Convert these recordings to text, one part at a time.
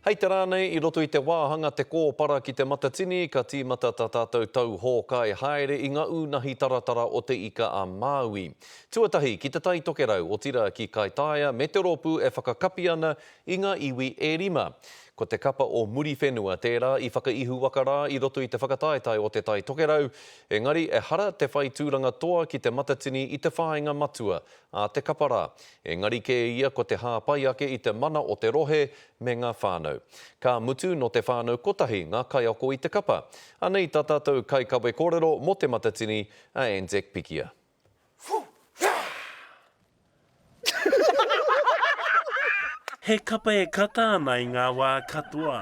Hei te rā nei, i roto i te wāhanga Te Kōpara ki Te Matatini, ka tīmata tā tātou tau hōkai haere i ngā ūnahi taratara o Te Ika a Māui. Tuatahi ki Te Tai Tokerau, otirā ki Kaitaia me te rōpū e whakakapi ana i ngā iwi e rima. Ko te kapa o Muriwhenua tērā i whakaihuwaka rā i roto i te whakataetae o Te Tai Tokerau, engari ehara te whai tūranga toa ki Te Matatini i te whāinga matua a te kapa rā, engari kē ia ko te hāpai ake i te mana o te rohe me ngā whānau. Ka mutu, nō te whānau kotahi ngā kaiako i te kapa. Anei tā tātou kaikawe kōrero mō Te Matatini, a Anzac Pikia. He kapa e kata ana i ngā wā katoa.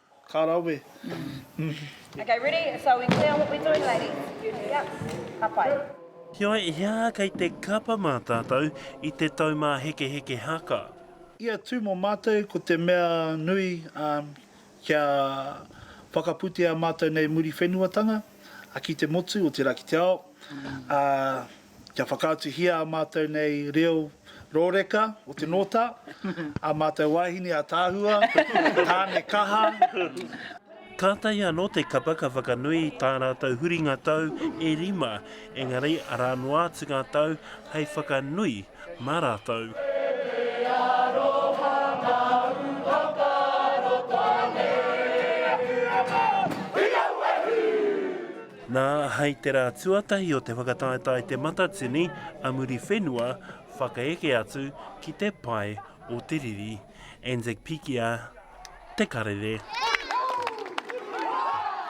Ka rawe. Okay, ready? So we clear on what we're doing, ladies? Yep. Ka pai. Heoi, he aha kei te kapa mā tātou i te taumāhekeheke haka? Ia tū mō mātou ko te mea nui kia whakaputea mātou nei Muriwhenuatanga ki te motu o te Rakiteao, kia whakaatuhia ā mātou nei reo rōreka o te nōta, ā mātou wāhine ataahua, tāne kaha, ā. Kātahi anō te kapa ka whakanui i tā rātou huringa tau e rima, engari arā noa atu ngā tau hei whakanui mā rātou. Nā, hei te rā tuatahi o te whakataetae Te Matatini a Muriwhenua whakaeke atu ki te pae o te riri. Anzac Pikia, Te Karere.